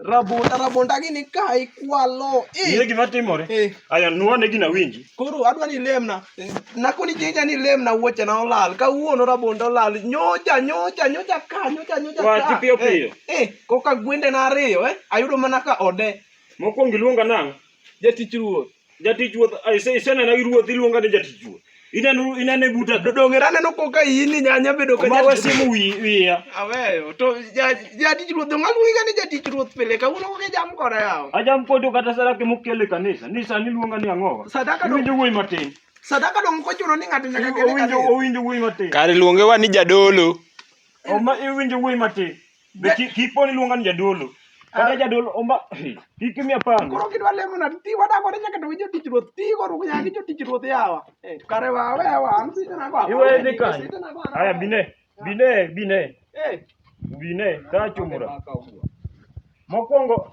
Rabonda rabonda gini ka ikwalo. Ng'e gima timore. Eh. Aya nuwa ne gina winji. Koro adwa ni lemna. Eh. Nako ni jinja ni lemna wuoche na olal. Ka wuono rabonda olal. Nyocha nyocha nyocha ka nyocha nyocha. Wa ti piyo piyo. Eh, eh koka gwende na ariyo eh. Ayudo mana ka ode. Mokwongo iluonga nang'. Jatich ruoth. Jatich ruoth, isenena gi ruoth iluonga ni jatich ruoth. Ineno inane buta. Dodonge raneno ko ka ini nyanya bedo ka jatich. Wasimu wiya. Aweyo to jatich ruoth ngaluongi ga ni jatich ruoth pile ka uno ke jam koda yawo. Ajam kodo kata sara ke mokele kanisa. Ni sani luonga ni angoga. Sadaka do. Winjo wuoyi matin. Sadaka do mkochuno ni ng'ato nyaka kele kanisa. Owinjo wuoyi matin. Kare luonge wa ni jadolo. Oma iwinjo wuoyi matin. Be ki- kik poni luonga ni jadolo kata jadolo omba kik imiya panga Koro kidwa lemo na ti wadago ne nyaka to winjo tich ruoth ti koro nyaka gi jotich ruoth yawa. Eh, Kare wa we wa an sita na kwa. Iwe dhi kanye? aya bine bine bine Eh. bine tachumura mokwongo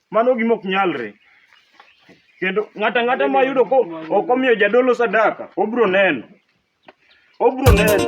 Mano gima ok nyalre. Kendo ng'ata ng'ata ma yudo ko ok omiyo jadolo sadaka, obro neno. Obro neno.